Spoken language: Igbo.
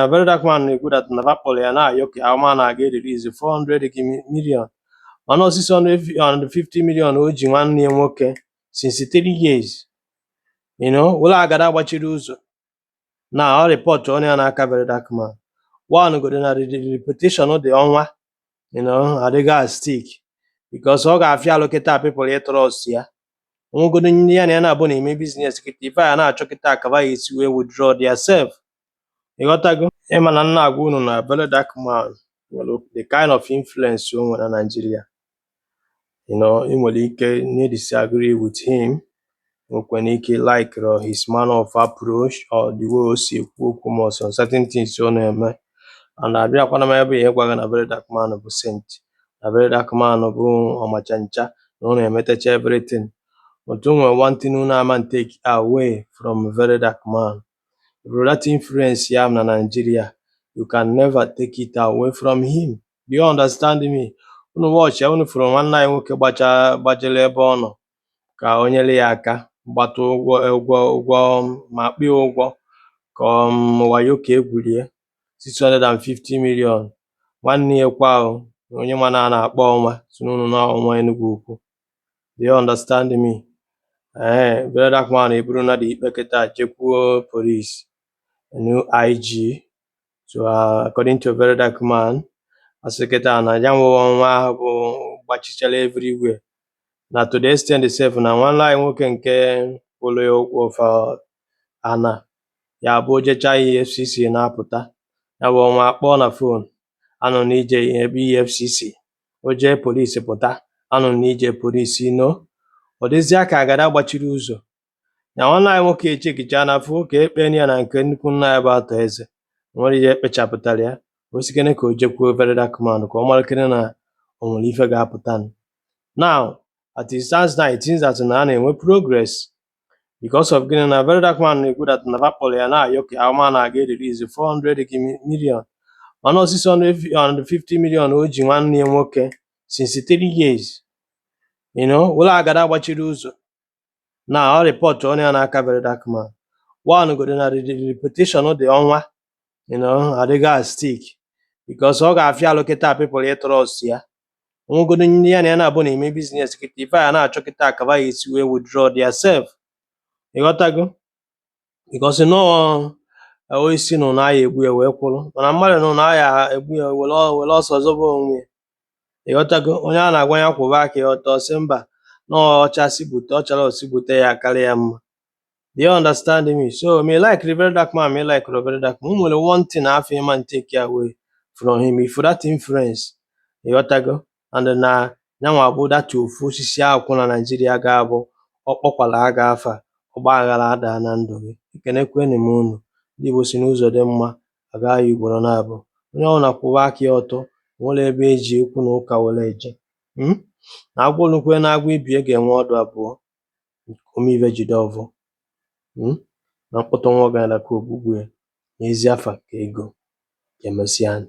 na very dark man na-ekwu that na fa kpọrọ ya na-ayọ ka ama na a ga-erelease 400 gị mi- million mana ọ 650 million o ji nwanne ya nwoke since 3 years you know ọ bụrụ agada gbachiri ụzọ na ọ report onye a n'aka very dark man one godo na the the reputation the ọnwa you know adịgo at stake because ọ ga-afịa alụ kịta people ịtrust ya onwegodo ndị ya na ya na-abụ na-eme business kịta ife a na-achọ kịta aka fa ya-esi wee withdraw their self ịghọtago ị ma na m na-agwa unu na very dark man nwere the kind of influence o nwere na Naịjirịa you know ị nwere ike ịdisagree with him nwekwara ike likerọ his manner of approach or the way o si ekwu okwu ma ọ sọ certain things ọ na-eme and abịakwana m ebe a ịgwa gị na very dark man bụ saint na very dark man bụ ọmacha ncha na ọ na-emetecha everything but o nwere one thing unu ama take away from very dark man That influence ya na Nigeria, you can never take it away from him. Do you understand me? Unu watch ya unu fụrụ nwanne anyị nwoke gbacha gbajere ebe ọ nọ ka o nyere ya aka gbata ụgwọ ụgwọ ụgwọ um, ma kpịa ya ụgwọ ka um, wayo ka e gwuru ya 650 million nwanne ya kwa o, onye ma na a na-akpọ ọnwa si n'ụnụ na ọnwa Enugwu Ukwu Do you understand me? Ee, eh, very dark man eburuna the ikpe kịta jekwuo police new IG so uh, according to very dark man asị kịta na ya bụ ọnwa ahụ bụ gbachichara everywhere na to the extent sef na nwanne anyị nwoke nke kwụrụ ya ụgwọ fa ana ya bụ o jecha EFCC na-apụta ya bụ ọnwa akpọọ na phone anụ na i jebe efcc o jee police pụta anụ na i je police no ọ dịzịa ka agada gbachiri ụzọ na nwanne anyị nwoke echekicha na afụ ka ekpe ya na nke nnukwu nna ya bụ Arthur Eze o nwerọ ihe ekpechapụtara ya ọ sịkene ka o jekwuo very dark man ka ọ malụkene na o nwere ife ga-apụta now as it stands now it seems that na a na-enwe progress because of gịnị na very dark man na-ekwu that na fa kpọrọ ya na-ayọ ka ama na a ga-erelease 400 million mana ọ 650 million o ji nwanne ya nwoke since 3 years you know ọ bụrụ agada gbachiri ụzọ na ọ report onye a n'aka very dark man one godo na the reputation the ọnwa you know adịgo at stake because ọ ga-afịa alụ kịta people ịtrust ya nwegodo ndị ya na ya na-abụ na-eme business kịta ife a na-achọ kịta aka fa ya-esi wee withdraw their self ịghọtago because na ọọ osisi nụ na a ya-egbu ya wee kwụrụ mana mmadụ nụ na a ya-egbu ya were ọ- were ọsọ zọba onwe ya ịghọtago onye a na-agwa ya kwụba aka ya ọtọ sị mba na ọcha si bute ọchara osi bute ya karịa ya mma Do you understand me? So me like the very dark man, me like the very dark man. Only one thing I feel man take away from him. Ị fụ that influence, o gotago. And then uh, nya wa abụ that ofu osisi a kwụ na Nigeria ga-abụ ọ kpọkwala aga fa ọ gbaghala ada na ndụ. Ekenekwenụ m unu. Ndị Igbo sị na ụzọ dị mma, a gaa ya ugboro naabọ. Onye ọ na-akwụwa aka ya ọtọ, nwere ebe e ji okwu na ụka were eje. Hmm? Na agwọ olukwe na agwọ ibe ya ga-enwe ọdụ abụọ. ome ive jide ọvọ um na mkpọtụ nwa ọgaranya ka ogbugbu ya na ezi afa ka ego, ka emesịanụ.